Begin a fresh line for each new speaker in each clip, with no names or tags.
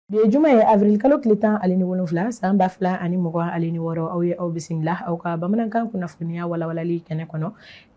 Bi ye juma ye avril kalo tile tan ale ni wolonfila san ba fila ani mugan ale ni wɔɔrɔ aw ye aw bisimila aw ka bamanankan kunnafoniya walawalali kɛnɛ kɔnɔ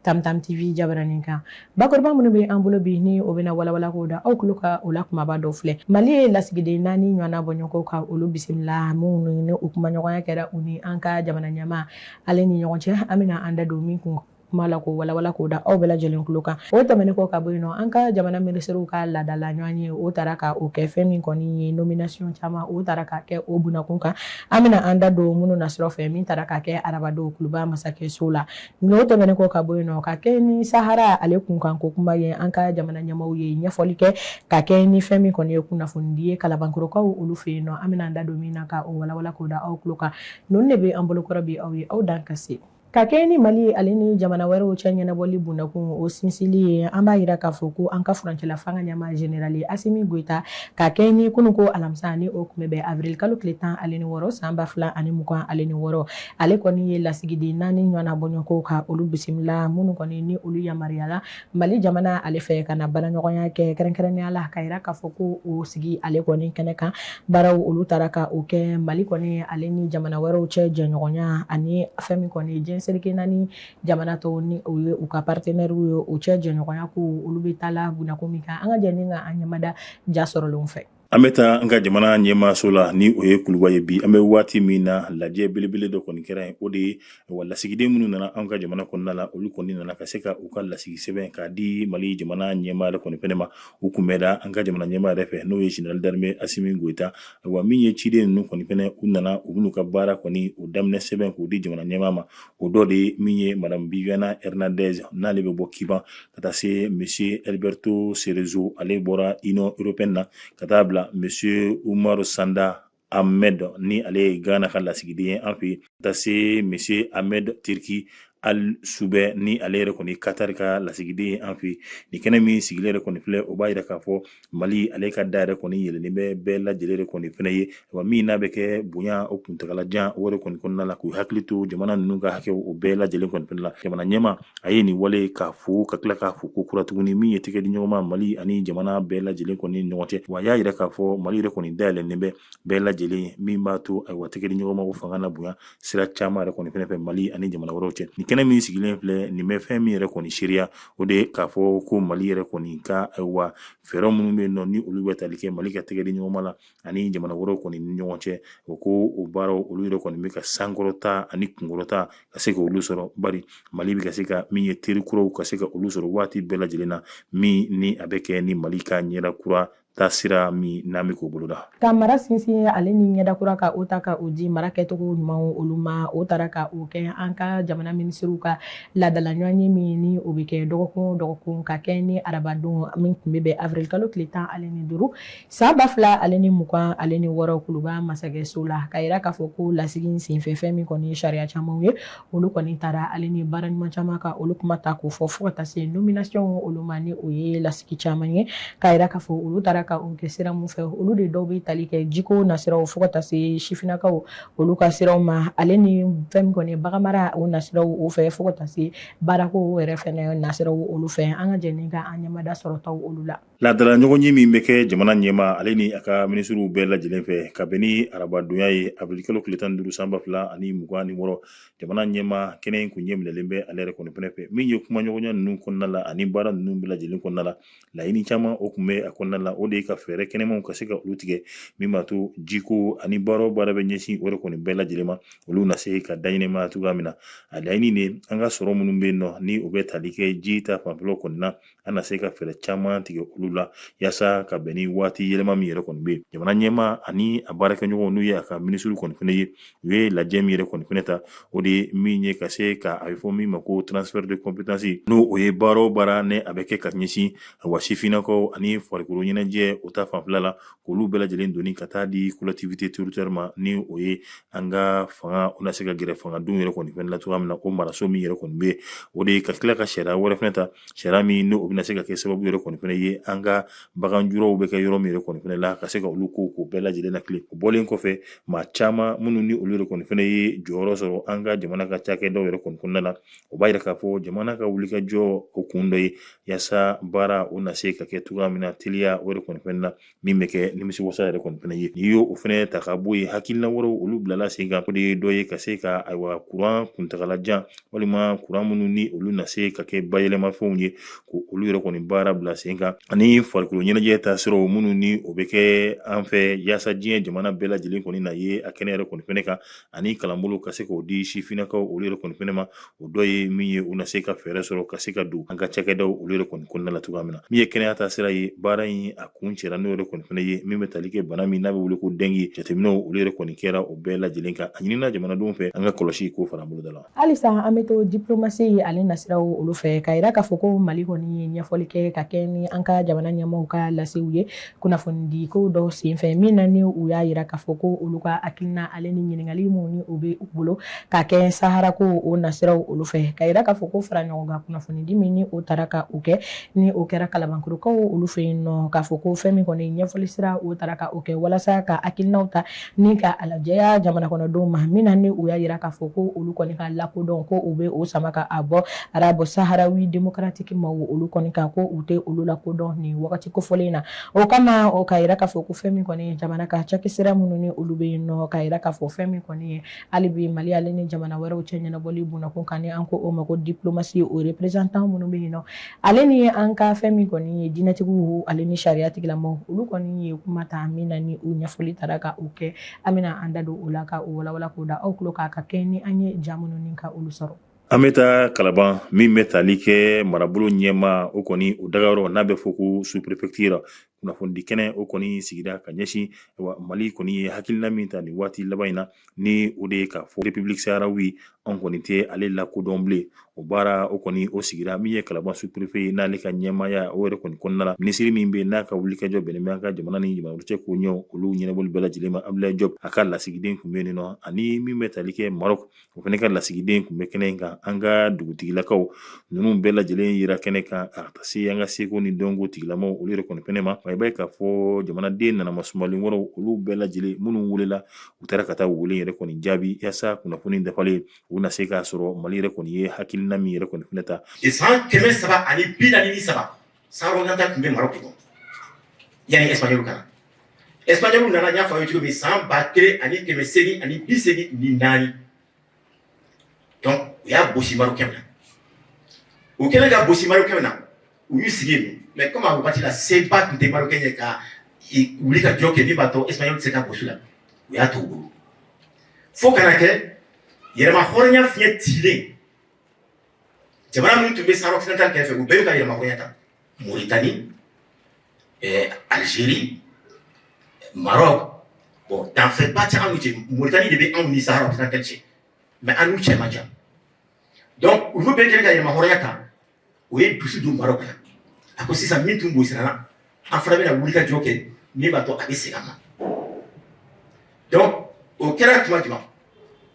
tamtam tv jabaranin kan bakuruba minnu bɛ an bolo bi ni o bɛna walawala k'o da aw tulo kan o la kumaba dɔ filɛ mali ye lasigiden naani ɲɔgɔnna bɔɲɔgɔnko ka olu bisimila minnu ni u kumaɲɔgɔnya kɛra u ni an ka jamana ɲɛmaa ale ni ɲɔgɔn cɛ an bɛna an da don min kun kuma la k'o walawala k'o da aw bɛɛ lajɛlen tulo kan o tɛmɛnen kɔ ka bɔ yen nɔ an ka jamana minisiriw ka laadala ɲɔgɔnye o taara ka o kɛ fɛn min kɔni ye nomination caman o taara ka kɛ o bunakun kan an bɛna an da don minnu na sira fɛ min taara ka kɛ arabadon kuluba masakɛso la n'o tɛmɛnen kɔ ka bɔ yen nɔ ka kɛɲɛ ni sahara ale kunkan ko kuma ye an ka jamana ɲɛmaaw ye ɲɛfɔli kɛ ka kɛɲɛ ni fɛn min kɔni ye kunnafonidi ye kalabankɔrɔkaw olu fɛ yen nɔ an bɛna an da don min na ka o walawala k'o da aw tulo kan Ninnu de bɛ an bolokɔrɔ bi aw ye aw dan ka se ka kɛɲɛ ni mali ye ale ni jamana wɛrɛw cɛ ɲɛnabɔli bunakun o sinsili ye an b'a yira k'a fɔ ko an ka furancɛla fanga ɲɛmaa général Asimi Goita ka kɛɲɛ ni kunun ko alamisa ni o tun bɛ bɛn avril kalo tile tan ale ni wɔɔrɔ san ba fila ani mugan ale ni wɔɔrɔ ale kɔni ye lasigiden naani ɲɔgɔnna bɔɲɔgɔnko ka olu bisimila minnu kɔni ni olu yamaruyala Mali jamana ale fɛ ka na baaraɲɔgɔnya kɛ kɛrɛnkɛrɛnnenya la ka yira k'a fɔ ko o sigi ale kɔni kɛnɛ kan baaraw olu taara ka o kɛ mali kɔni ale ni jamana wɛrɛw cɛ jɛɲɔgɔnya ani fɛn min kɔni jɛn seleke naani jamana tɔw ni o ye u ka partenairew ye u cɛ jɛɲɔgɔnya ko olu bɛ taa la bunakun min kan an ka jɛ ni ka an ɲɛmada ja sɔrɔlenw fɛ An bɛ taa an
ka jamana ɲɛmaa so la ni o ye kuluba ye bi an bɛ waati min na lajɛ belebele dɔ kɔni kɛra yen o de ye wa lasigiden minnu nana an ka jamana kɔnɔna la olu kɔni nana ka se ka u ka lasigi sɛbɛn k'a di mali jamana ɲɛmaa yɛrɛ kɔni fɛnɛ ma u kunbɛnna an ka jamana ɲɛmaa yɛrɛ fɛ n'o ye général d'armée Asimi Goita wa min ye ciden ninnu kɔni fɛnɛ u nana u bɛn'u ka baara kɔni o daminɛ sɛbɛn k'o di jamana ɲɛmaa ma o dɔ de ye min ye madame Viviana Hernandez n'ale bɛ bɔ Kuba ka taa se monsieur Alberto Cerezo ale bɔra Union européenne na ka taa bila monsieur Umaru Sanda Ahmed ni ale ye gana ka lasigiden ye an fɛ ka taa se monsieur Ahmed Turki Al Subaie ni ale yɛrɛ kɔni katari ka lasigiden ye an fɛ nin kɛnɛ min sigilen yɛrɛ kɔni filɛ o b'a yira k'a fɔ mali ale ka da yɛrɛ kɔni yɛlɛlen bɛ bɛɛ lajɛlen de kɔni fɛnɛ ye wa min n'a bɛ kɛ bonya o kuntagalajan o yɛrɛ kɔni kɔnɔna la k'u hakili to jamana ninnu ka hakɛ o bɛɛ lajɛlen kɔni fɛnɛ la jamana ɲɛmaa a ye nin wale k'a fo ka tila k'a fo kokura tuguni min ye tɛgɛ di ɲɔgɔnma mali ani jamana bɛɛ lajɛlen kɔni ɲɔgɔn cɛ wa y'a yira k'a fɔ mali yɛrɛ kɔni dayɛlɛnnen bɛ bɛɛ lajɛlen min b'a to ayiwa tɛgɛ di ɲɔgɔnma o fanga na bonya sira caman yɛrɛ kɔni fɛnɛ fɛ mali ani jamana wɛrɛw cɛ nin kɛnɛ min sigilen filɛ nin bɛ fɛn min yɛrɛ kɔni seereya o de ye k'a fɔ ko mali yɛrɛ kɔni ka wa fɛɛrɛ minnu bɛ nɔ ni olu bɛ tali kɛ mali ka tɛgɛ di ɲɔgɔnma la ani jamana wɛrɛ kɔni ni ɲɔgɔn cɛ o ko o baara olu yɛrɛ kɔni bɛ ka sankɔrɔta ani kunkɔrɔta ka se ka olu sɔrɔ bari mali bɛ ka se ka min ye terikuraw ka se ka olu sɔrɔ waati bɛɛ lajɛlen na min ni a bɛ kɛ ni mali ka ɲɛda kura taasira min n'a bɛ k'o boloda ka mara sinsin
ale ni ɲɛdakura ka o ta ka o di mara kɛcogo ɲumanw olu ma o taara ka o kɛ an ka jamana minisiriw ka laadala ɲɔgɔnye min ni o bɛ kɛ dɔgɔkun o dɔgɔkun ka kɛ ni arabadon min tun bɛ bɛn avril kalo tile tan ale ni duuru san ba fila ale ni mugan ale ni wɔɔrɔ kuluba masakɛso la k'a yira k'a fɔ ko lasigin senfɛ fɛn min kɔni ye sariya camanw ye olu kɔni taara ale ni baara ɲuman caman ka olu kuma ta k'o fɔ fo ka taa se nomination olu ma ni o ye lasigi caman ye k'a yira k'a fɔ olu taara ka o kɛ sira mun fɛ olu de dɔw bɛ tali kɛ jiko nasiraw fo ka taa se sifinnakaw olu ka siraw ma ale ni fɛn min kɔni baganmara o nasiraw o fɛ fo ka taa se baarako yɛrɛ fɛnɛ nasiraw olu fɛ an ka jɛ ni ka an ɲɛmada sɔrɔtaw olu la Laadala ɲɔgɔnye min
bɛ kɛ jamana ɲɛmaa ale ni a ka minisiriw bɛɛ lajɛlen fɛ kabini arabadon ni a ye avril kalo tile tan ni duuru san ba fila ani mugan ni wɔɔrɔ jamana ɲɛmaa kɛnɛ in tun ɲɛminɛlen bɛ ale yɛrɛ kɔni fɛnɛ fɛ min ye kumaɲɔgɔnya ninnu kɔnɔna la ani baara ninnu bɛɛ lajɛlen kɔnɔna la laɲini caman o tun bɛ a kɔnɔna la o de ye ka fɛɛrɛ kɛnɛmanw ka se ka olu tigɛ min b'a to jiko ani baara o baara bɛ ɲɛsin o yɛrɛ kɔni bɛɛ lajɛlen ma olu na se ka dayma cogoya min na a laɲini de an ka sɔrɔ minnu bɛ nɔ ni u bɛ tali kɛ ji ta fanfɛlaw kɔni na an na se ka fɛɛrɛ caman tigɛ olu la yasa ka bɛn ni waati yɛlɛma min yɛrɛ kɔni bɛ yen jamana ɲɛmaa ani a baarakɛɲɔgɔnw n'u ye a ka minisiriw kɔni fɛnɛ ye u ye lajɛ min yɛrɛ kɔni fɛnɛ ta o de ye min ye ka se ka a bɛ fɔ min ma ko transfert de compétence n'o ye baara o baara ni a bɛ kɛ ka ɲɛsin wa sifinnakaw ani farikolo ɲɛnajɛ o ta fanfɛla la olu bɛɛ lajɛlen doni ka taa di collectivité territoriale ma ni o ye an ka fanga o na se ka gɛrɛ fangadenw yɛrɛ kɔni fɛnɛ la cogoya min na o maraso min yɛrɛ kɔni bɛ o de ye ka tila ka sariya wɛrɛ fɛnɛ ta sariya min n'o bɛna se ka kɛ sababu yɛrɛ kɔni fɛnɛ ye an ka baganjulaw bɛ kɛ yɔrɔ min yɛrɛ kɔni fɛnɛ la ka se ka olu ko bɛɛ lajɛlen na kile o bɔlen kɔfɛ maa caman minnu ni olu yɛrɛ kɔni fɛnɛ ye jɔyɔrɔ sɔrɔ an ka jamana ka cakɛdaw yɛrɛ kɔni kɔnɔna la o b'a yira k'a fɔ jamana ka wuli ka jɔ o kun dɔ ye yasa baara o na se ka kɛ cogoya min na teliya o yɛrɛ kɔni fɛnɛ na min bɛ kɛ nimisi wasa yɛrɛ kɔni fɛnɛ ye n'i y'o o fɛnɛ ta ka bɔ yen hakilina wɛrɛw olu bilala sen kan o de ye dɔ ye ka se ka ayiwa kuran kuntagala jan walima kuran minnu ni olu na se ka kɛ bayɛlɛmafɛnw ye ko olu yɛrɛ kɔni baara bila sen kan ani farikolo ɲɛnajɛ ta siraw minnu ni o bɛ kɛ an fɛ yaasa diɲɛ jamana bɛɛ lajɛlen kɔni na ye a kɛnɛ yɛrɛ kɔni fɛnɛ kan ani kalanbolo ka se k'o di sifinnakaw olu yɛrɛ kɔni fɛnɛ ma o dɔ ye min ye u na se ka fɛɛrɛ sɔrɔ ka se ka don an ka cakɛdaw olu yɛrɛ kɔni kɔnɔna la cogoya min na min ye kɛnɛya ta sira ye baara in a kuncɛra n'o yɛrɛ kɔni fɛnɛ ye min bɛ tali kɛ bana min n'a bɛ wele ko dɛngi jateminɛw olu yɛrɛ kɔni kɛra o bɛɛ lajɛlen kan a ɲinina jamanadenw fɛ an ka kɔlɔsi k'o fara boloda la halisa an bɛ
to diplomasi ale nasiraw olu fɛ ka yira k'a fɔ ko mali kɔni ye ɲɛfɔli kɛ ka kɛ ni an ka jamana ɲɛmaaw ka lasew ye kunnafonidiko dɔ senfɛ min na ni u y'a yira k'a fɔ ko olu ka hakilina ale ni ɲininkali minnu ni u bɛ u bolo ka kɛ sahara ko o nasiraw olu fɛ ka yira k'a fɔ ko fara ɲɔgɔn kan kunnafonidi min ni o taara ka o kɛ ni o kɛra kalabankɔrɔkaw olu fɛ yen nɔ k'a fɔ ko fɛn min kɔni ɲɛfɔli sira o taara ka o kɛ walasa ka hakilinaw ta ni ka a lajɛya jamana kɔnɔdenw ma min na ni u y'a yira k'a fɔ ko olu kɔni ka lakodɔn ko u bɛ o sama ka a bɔ arabɔ saharawi demokratiki ma olu kɔni kan ko u tɛ olu lakodɔn nin wagati kofɔlen in na o kama o ka yira k'a fɔ ko fɛn min kɔni jamana ka cakisira minnu ni olu bɛ yen nɔ ka yira k'a fɔ fɛn min kɔni ye hali bi mali ale ni jamana wɛrɛw cɛ ɲɛnabɔli b'o na ko kan ni an ko o ma ko diplomasi o reprezantan minnu bɛ yen nɔ ale ni ye an ka fɛn min kɔni ye diinɛtigiw ale ni sariya tigilamaw olu kɔni ye kuma ta min na ni u ɲɛfɔli taara ka u kɛ an bɛna an da don o la ka u walawala k'o da aw kulo kan ka kɛ ni an ye ja minnu ni ka olu sɔrɔ an bɛ taa kalaban
min bɛ tali kɛ marabolo ɲɛmaa o kɔni o dagayɔrɔ n'a bɛ fɔ ko suprefɛkitiri kunnafoni di kɛnɛ o kɔni sigira ka ɲɛsin mali kɔni ye hakilina min ta nin waati laban in na ni o de ye k'a fɔ republiki saharawi an kɔni tɛ ale lakodɔn bilen o baara o kɔni o sigira min ye kalaban suprefɛ ye n'ale ka ɲɛmaaya o yɛrɛ kɔni kɔnɔna la minisiri min bɛ n'a ka wulikajɔ bɛnnen bɛ an ka jamana ni jamana cɛ koɲɛw olu ɲɛnabɔli bɛɛ lajɛlen ma abulaye jɔpu a ka lasigiden tun bɛ yen nɔ ani min bɛ tali kɛ marɔk o fana ka lasigiden tun bɛ kɛnɛ in kan an ka dugutigilakaw ninnu bɛɛ lajɛlen yera kɛnɛ kan a ka se an ka seko ni dɔnko tigilamaw olu yɛrɛ kɔni fɛnɛ ma i b'a ye k'a fɔ jamanaden nana masumalen wɔrɔw olu bɛɛ lajɛlen minnu welela u taara ka taa wele yɛrɛ kɔni jaabi yasa kunnafoni dafalen u na se k'a sɔrɔ mali yɛrɛ kɔni ye hakilina min yɛrɛ kɔni fɛnɛ ta san kɛmɛ saba
ani bi naani ni saba Sahara occidental tun bɛ Maroc kɔnɔ yani espagnol ka na espagnolw nana n y'a fɔ aw ye cogo min san ba kelen ani kɛmɛ segin ani bi segin ni naani u y'a bɔsi Marokɛnw na u kɛlen k'a bɔsi Marokɛnw na u y'u sigi yen mɛ kɔmi a wagati la seba tun tɛ Marokɛnw ye ka wulikajɔ kɛ min b'a to espagnol tɛ se k'a bɔsi u la u y'a to u bolo fo ka na kɛ yɛrɛmahɔrɔnya fiɲɛ cilen jamana minnu tun bɛ sahara occidental kɛrɛfɛ u bɛɛ y'u ka yɛrɛmahɔrɔnya ta Mauritanie eh, Algérie Maroc bon danfɛnba tɛ anw n'u cɛ Mauritanie de bɛ anw ni sahara occidental cɛ mais an n'u cɛ man jan donc olu bɛɛ kɛlen ka yɛrɛmahɔrɔnya ta o ye dusu don Maroc la a ko sisan min tun b'u sirana an fana bɛna wuli ka cogo kɛ min b'a to a bɛ segin an ma donc o kɛra tuma jumɛn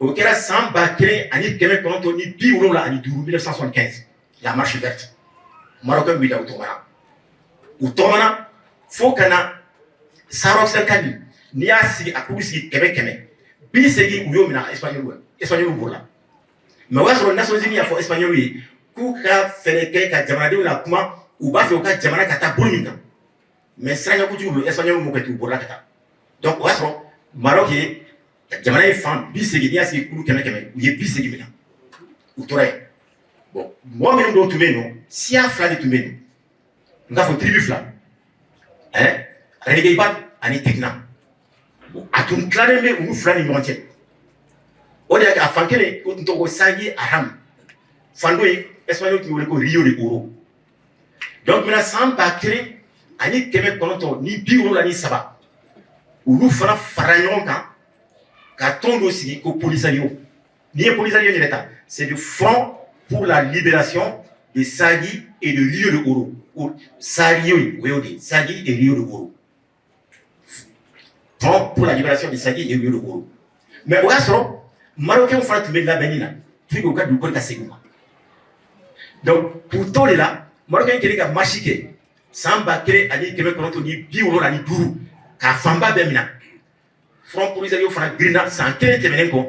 o kɛra san ba kelen ani kɛmɛ kɔnɔntɔn ni bi wolonwula ani duuru 1975 la marche verte marocains wulila u tɔgɔmana u tɔgɔmana fo ka na sahara occidental n'i y'a sigi a k'u sigi kɛmɛ kɛmɛ bi segin u y'o minɛ espagnol bolo la Mais o y'a sɔrɔ Nations Unies y'a fɔ espagnol ye k'u ka fɛɛrɛ kɛ ka jamanadenw lakuma u b'a fɛ u ka jamana ka taa bolo min kan mais siranɲɛkojugu don espagnol m'o kɛ ten u bɔra ka taa donc o y'a sɔrɔ Maroc ye jamana ye fan bi segin n'i y'a sigi kulu kɛmɛ kɛmɛ u ye bi segin minɛ u tora yen bon mɔgɔ minnu don tun bɛ yen nɔ siya fila de tun bɛ yen n k'a fɔ tribu fila ɛɛ reguibat ani tekna a tun tilalen bɛ olu fila ni ɲɔgɔn cɛ o de y'a kɛ a fan kelen o tun tɔgɔ ko saguia hamra fan dɔ in espagnol tun wele ko rio de oro donc maintenant san ba kelen ani kɛmɛ kɔnɔntɔn ni bi wolonwula ni saba olu fana fara ɲɔgɔn kan ka tɔn dɔ sigi ko polisario N'i ye polisario yɛrɛ ta c'est le front pour la libération de Saguia et de Rio de Oro Sario o y'o de ye Saguia et Rio de Oro front pour la libération de Saguia et Rio de Oro mais o y'a sɔrɔ Marocains fana tun bɛ labɛnni na pour que u ka dugukolo ka segin u ma donc k'u to o de la Marocains kɛlen ka marche kɛ san ba kelen ani kɛmɛ kɔnɔntɔn ni bi wolonwula ni duuru k'a fanba bɛɛ minɛ Front polisario fana girinna san kelen tɛmɛnen kɔ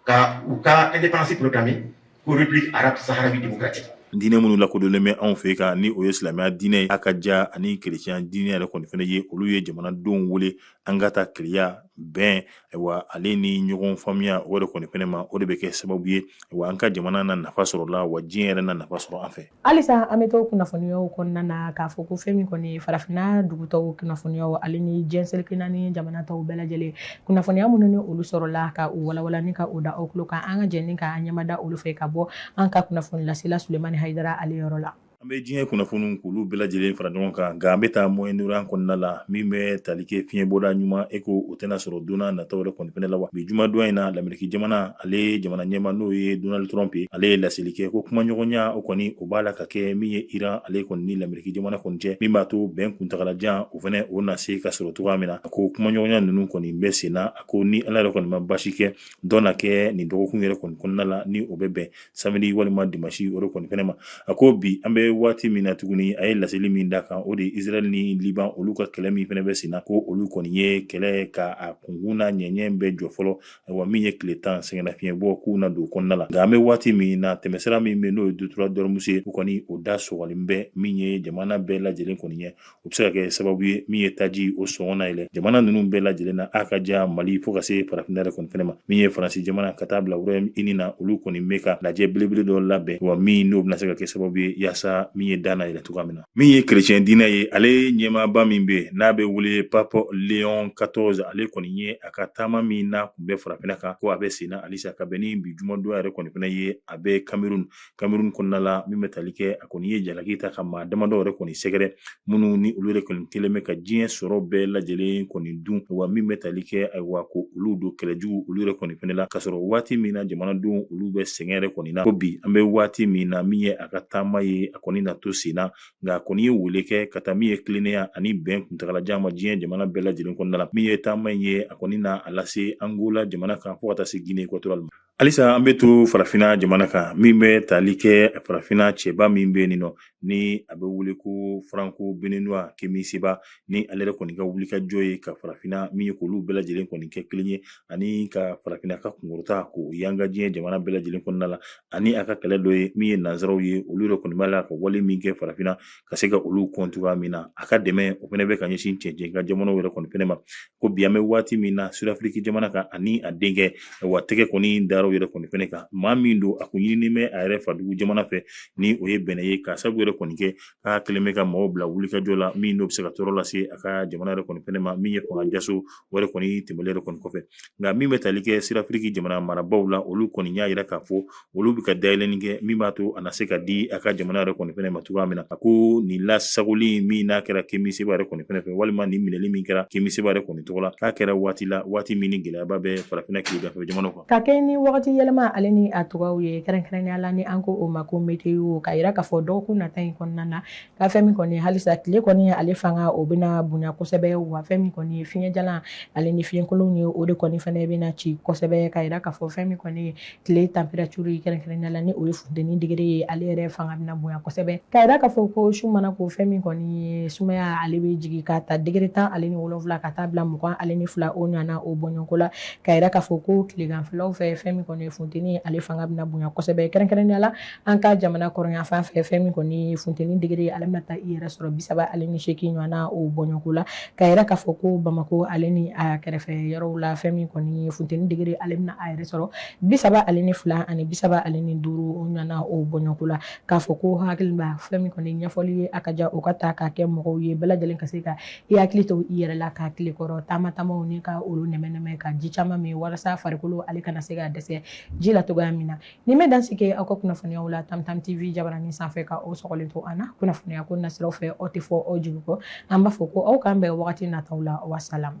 ka u ka indépendance proclamer ko République arabe saharawi démocratique diinɛ minnu lakodɔnlen
bɛ anw fɛ kɔni o ye silamɛya diinɛ a ka ja ani kerecɛnya diinɛ yɛrɛ kɔni fana ye olu ye jamanadenw wele an ka taa kelenya bɛn wa ale ni ɲɔgɔn faamuya o yɛrɛ kɔni fana ma o de bɛ kɛ sababu ye wa an ka jamana na nafa sɔrɔ la wa diɲɛ yɛrɛ na nafa sɔrɔ an fɛ halisa an bɛ
to kunnafoniyaw kɔnɔna na k'a fɔ ko fɛn min kɔni ye farafinna dugu tɔw kunnafoniyaw ale ni diɲɛ seleke naani jamana tɔw bɛɛ lajɛlen kunnafoniya minnu ni olu sɔrɔla ka u walawala ni ka u da aw tulo kan an ka jɛn ni ka an ɲɛmada olu fɛ ka bɔ an ka kunnafonilasela sulemani hayidara ale yɔrɔ la an bɛ diɲɛ
kunnafoniw k'olu bɛɛ lajɛlen fara ɲɔgɔn kan nka an bɛ taa moyen-orient kɔnɔna la min bɛ tali kɛ fiɲɛbɔda ɲuman eko o tɛna sɔrɔ don nataw yɛrɛ kɔni fana la wa bi jumadon in na lameriki jamana ale jamana ɲɛmaa n'o ye donald trump ye ale ye laseli kɛ ko kumaɲɔgɔnya o kɔni o b'a la ka kɛ min ye iran ale kɔni ni lameriki jamana kɔni cɛ min b'a to bɛn kuntagalajan o fana o na se ka sɔrɔ cogoya min na a ko kumaɲɔgɔnya ninnu kɔni bɛ sen na a ko ni ala yɛrɛ kɔni ma basi kɛ dɔ na kɛ nin dɔgɔkun yɛrɛ kɔni kɔnɔna la ni o bɛ bɛn samedi walima dimasi o de kɔni fɛnɛ ma a ko bi an bɛ waati min na tuguni a ye laseli min da kan o de ye israel ni liban olu ka kɛlɛ min fɛnɛ bɛ sen na ko olu kɔni ye kɛlɛ ka a kunkun n'a ɲɛɲɛ bɛɛ jɔ fɔlɔ wa min ye tile tan sɛgɛnnafiɲɛ bɔ k'u na don kɔnɔna la nka an bɛ waati min na tɛmɛsira min bɛ n'o ye détroit d'ormuz ye u kɔni o da sɔgɔlen bɛ min ye jamana bɛɛ lajɛlen kɔni ye o bɛ se ka kɛ sababu ye min ye taji o sɔngɔ na yɛlɛ jamana ninnu bɛɛ lajɛlen na a ka ja mali fo ka se farafinna yɛrɛ kɔni fɛnɛ ma min ye faransi jamana ka taa bila royaume-uni na olu kɔni bɛ ka lajɛ belebele dɔ labɛn wa min n'o bɛna se ka kɛ sababu ye yaasa min ye da na yɛlɛ cogoya min na min ye kerecɛn diinɛ ye ale ɲɛmaaba min bɛ yen n'a bɛ wele pape léon quatorze ale kɔni ye a ka taama min n'a tun bɛ farafinna kan ko a bɛ senna halisa ka bɛn ni bi jumadon yɛrɛ kɔni fana ye a bɛ kamerun kamerun kɔnɔna la min bɛ tali kɛ a kɔni ye jalaki ta ka maa damadɔ yɛrɛ kɔni sɛgɛrɛ minnu ni olu yɛrɛ kɔni kɛlen bɛ ka diɲɛ sɔrɔ bɛɛ lajɛlen kɔni dun wa min bɛ tali kɛ ayiwa ko olu don kɛlɛjugu olu yɛrɛ kɔni fana la ka sɔrɔ waati min na jamanadenw olu bɛ sɛgɛn yɛrɛ kɔni na ko bi an bɛ waati min na min ye a ka taama ye a kɔni na to sen na nka a kɔni ye wele kɛ ka taa min ye tilennenya ani bɛn kuntagalajan ma diɲɛ jamana bɛɛ lajɛlen kɔnɔna la min ye taama in ye a kɔni na a lase angola jamana kan fo ka taa se guinée équatoriale ma halisa an bɛ to farafinna jamana kan min bɛ tali kɛ farafinna cɛba min bɛ nin nɔ ni a bɛ wele ko franco-béninois kemi seba ni ale yɛrɛ kɔni ka wulikajɔ ye ka farafinna min ye k'olu bɛɛ lajɛlen kɔni kɛ kelen ye ani ka farafinna ka kunkɔrɔta k'o yanga diɲɛ jamana bɛɛ lajɛlen kɔnɔna la ani a ka kɛlɛ dɔ ye min ye nanzaraw ye olu yɛrɛ kɔni b'a la ka wale min kɛ farafinna ka se ka olu kɔn cogoya min na a ka dɛmɛ o fana bɛ ka ɲɛsin cɛncɛn kan jamanaw yɛrɛ kɔni fɛnɛ ma ko bi an bɛ waati min na sudafiriki jamana kan ani a denkɛ wa tɛgɛ kɔni dara u yɛrɛ kɔni fɛnɛ kan maa min don a kun ɲininen bɛ a yɛrɛ fadugu jamana fɛ ni o ye benɛn ye ka sabu yɛrɛ kɔni kɛ k'a kɛlen bɛ ka maaw bila wulikajɔ la min n'o bɛ se ka tɔɔrɔ lase a ka jamana yɛrɛ kɔni fɛnɛ ma min ye fanga jaso o yɛrɛ kɔni tɛmɛlen yɛrɛ kɔni kɔfɛ nka min bɛ tali kɛ sudafiriki jamana marabaaw la olu kɔni y'a yira k'a fɔ olu bɛ ka dayɛlɛnni kɛ min b'a to a na se ka di a ka jamana yɛrɛ kɔni fɛnɛ ma cogoya min na a ko nin lasagoli min n'a kɛra kemi seba yɛrɛ kɔni fɛnɛ fɛ walima nin minɛli min kɛra kemi seba yɛrɛ kɔni tɔgɔ la k'a kɛra waati la waati min ni gɛlɛyaba bɛ farafinna kileganfɛ jamana kan Ka kɛ ni wagati
yɛlɛma ale ni a cogoyaw ye kɛrɛnkɛrɛnnenya la ni an ko o ma ko météo ka jira k'a fɔ dɔgɔkun nata in kɔnɔna na ka fɛn min kɔni halisa tile kɔni ye ale fanga o bɛna bonya kosɛbɛ wa fɛn min kɔni ye fiɲɛ jalan ale ni fiɲɛkolon ye o de kɔni fana bɛna na ci kosɛbɛ ka jira k'a fɔ fɛn min kɔni ye tile température ye kɛrɛnkɛrɛnnenya la ni o ye funteni degere ye ale yɛrɛ fanga bɛna bonya kosɛbɛ ka jira k'a fɔ ko su mana ko fɛn min kɔni ye sumaya ye ale bɛ jigin ka ta degere tan ale ni wolonwula ka taa bila mugan ale ni fila o ɲɔgɔn na o bɔɲɔgɔnko la Ka yira k'a fɔ ko tileganfɛlaw fɛ fɛn min kɔni ye funteni ye ale fanga bɛna bonya kosɛbɛ kɛrɛnkɛrɛnnenya la an ka jamana kɔrɔnyanfan fɛ fɛn min kɔni ye funteni degere ye ale bɛna taa i yɛrɛ sɔrɔ bisaba ale ni seegin ɲɔgɔn na o bɔɲɔgɔnko la ka yira k'a fɔ ko Bamakɔ ale ni a kɛrɛfɛ yɔrɔw la fɛn min kɔni ye funteni degere ale bɛna a yɛrɛ sɔrɔ bisaba ale ni fila ani bisaba ale ni duuru ɲɔgɔn na o bɔɲɔgɔnko la k'a fɔ ko hakili b'a fɛn min kɔni ɲɛfɔli ye a ka ja o ka ta k'a kɛ mɔgɔw ye bɛɛ lajɛlen ka se ka I hakili to i yɛrɛ la ka tile kɔrɔ taama taamaw ni ka olu nɛmɛ-nɛmɛ ka ji caman min walasa farikolo ale kana se ka dɛsɛ ji la cogoya min na nin bɛ dan sigi aw ka kunnafoniyaw la Tam Tam TV jabaranin sanfɛ ka aw sɔgɔlen to an na kunnafoniya ko nasiraw fɛ aw tɛ fɔ aw jigi kɔ an b'a fɔ ko aw k'an bɛn wagati nataw la wasalam